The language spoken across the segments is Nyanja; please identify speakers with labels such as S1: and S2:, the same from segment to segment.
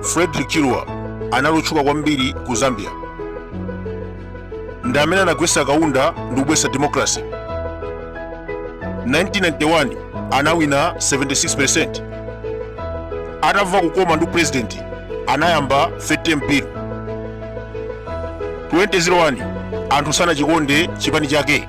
S1: frederick chiluba anali otchuka kwambiri ku zambia ndi amene anagwetsa kaunda ndi kubwesa democracy 1991 anawina 76 atamva kukoma ndi president anayamba third term mpiri 2001 anthu sanachikonde chipani chake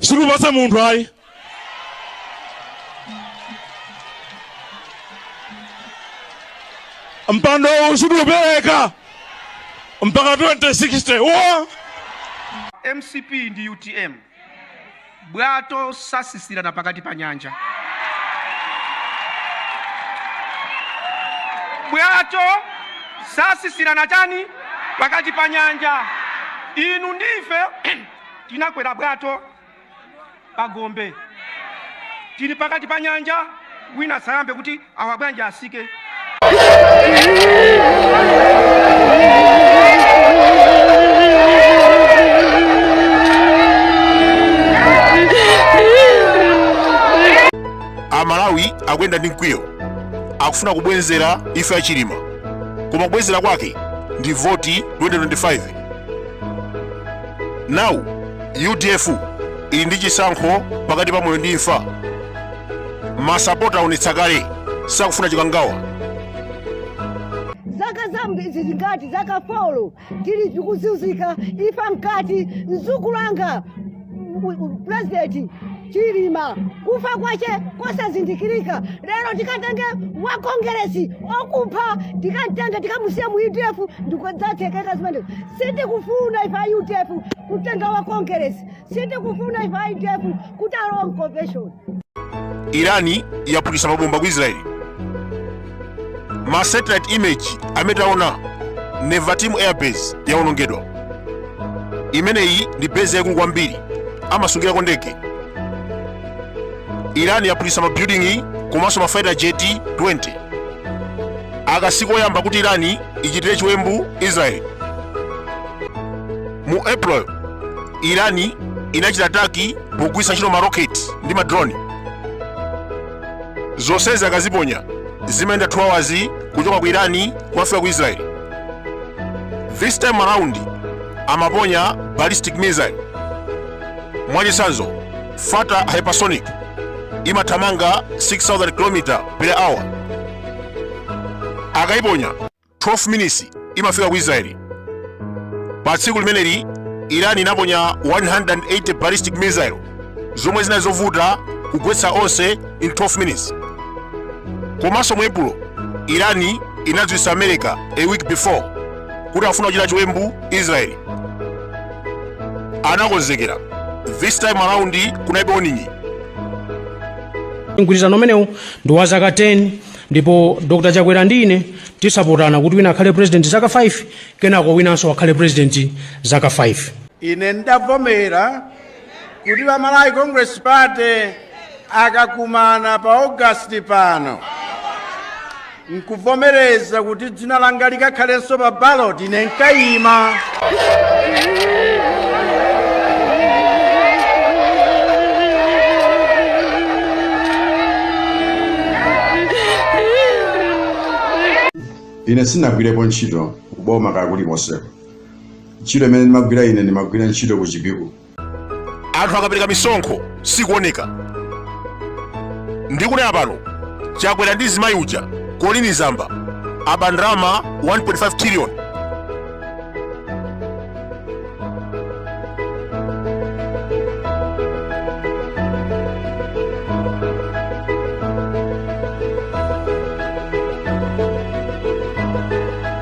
S2: sitikupatsa munthu ayi mpando uwu sitiupereka mpaka 2060 wo
S3: mcp ndi utm bwato sasitsirana pakati pa nyanja bwato sasitsirana chani pakati pa nyanja inu ndife tinakwera bwato pa gombe tili pakati pa nyanja wina sayambe kuti awa bwanji atsike
S1: amalawi akuyenda ndi mkwiyo akufuna kubwenzera ife achilima koma kubwenzera kwake ndi voti 2025 now udf ili ndi chisankho pakati pa moyo ndi imfa masapota aonetsa kale sakufuna chikangawa
S4: zaka zambizi zingati zaka folo tili tikuzunzika ife mkati mzukulu anga u- u- president chilima kufa kwache kosazindikirika lero tikatenge wa kongeresi okupha tikamtenge tikamusiya mu udf n'kodzathekeka zimenezo sitikufuna ife a udf kutenga wa kongeresi sitikufuna ife a udf kuti alowa mconvention irani
S1: yaphulitsa mabomba ku israeli ma satellite image amene taona nevatim airbase yawonongedwa imeneyi ndi base yaikulu kwambiri amasungirako ndege iran yaphulitsa mabuilding komanso mafighter jet 20 aka sikoyamba kuti iran ichitire chiwembu israel mu april iran inachita ataki pogwiritsa ntchito maroketi ndi madroni zonsezi akaziponya zimayenda 2 hours kuchoka ku irani kukafika ku israeli this time around amaponya ballistic missile mwachitsanzo fata hypersonic imathamanga 6000 km per hour akaiponya 12 minutes imafika ku israeli pa tsiku limeneli iran inaponya 180 ballistic missile zomwe zinali zovuta kugwetsa onse in 12 minutes komanso mu epulo iran inadziwitsa america a week before kuti afuna kuchita chiwembu israeli anakonzekera this time around kunalibe warning
S5: mgwirizano umenewu ndi wa zaka 10 ndipo dr chakwera ndi ine tizapotana kuti wina akhale president zaka 5 kenako winanso akhale president zaka 5 ine
S6: ndavomera kuti pa malawi congress party akakumana pa august pano nkuvomereza kuti dzina langa likakhalenso pa ballot ine
S7: nkayima ine sinagwirepo ntchito kuboma kwakuli konseko ntchito imene ndimagwira ine ndimagwira ntchito ku chipiku anthu
S1: akapereka misonkho sikuoneka ndikunena pano chakwera ndi zimayi uja kolini zamba aba ndalama 1.5 trillion